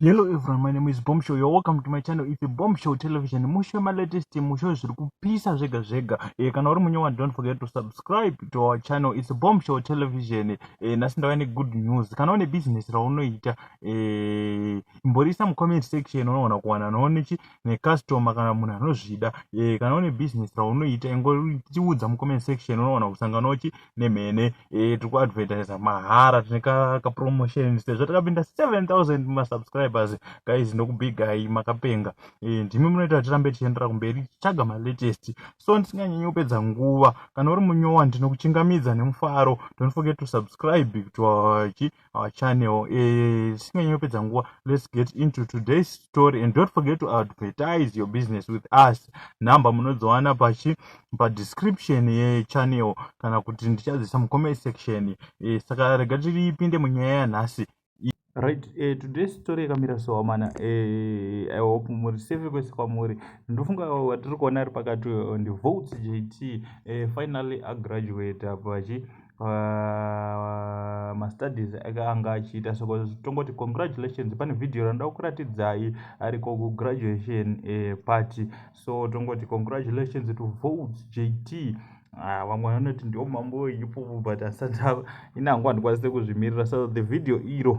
Hello everyone, my name is Bombshow. You're welcome to my channel. It's Bombshow Television. Mushe ma latest mushe zviri kupisa zvega zvega. Eh kana uri munyewa don't forget to subscribe to our channel. It's Bombshow Television. Eh nasi ndava ne good news. Kana une business raunoita eh imborisa mu comment section unoona kuwana noone chi ne customer kana munhu anozvida. Eh kana une business raunoita ingoriudza mu comment section unoona kusangana uchi nemhene eh, tiri kuadvertisa mahara tine kapromotion sezvo takapinda 7000 masubscribers guys ndokubigai makapenga eh, ndimi munoita kuti tirambe tichiendera kumberi tichitsvaga malatest so ndisinganyanyi kupedza nguva kana uri munyowa ndinokuchingamidza nemufaro don't forget to subscribe to our our channel eh, singanyi yopedza nguva let's get into today's story and don't forget to advertise your business with us number munodziwana pachi padescription yechannel kana kuti ndichadzisa mucomment section eh, saka rega tiripinde munyaya yanhasi right eh, today story yakamira so amana eh, i hope muri safe kwese kwamuri ndofunga watiri kuona ari pakati eh, ndivotes jt eh, finally agraduate apa chi pamastudies ake anga achiita soko tongoti congratulations pane vhidhiyo ranoda kukuratidzai ariko kugraduation eh, party so tongoti congratulations to vote jt Ah, vamwe uh, vanoti ndio mambo ipopo but asati inangu handikwanise kuzvimirira so the video iro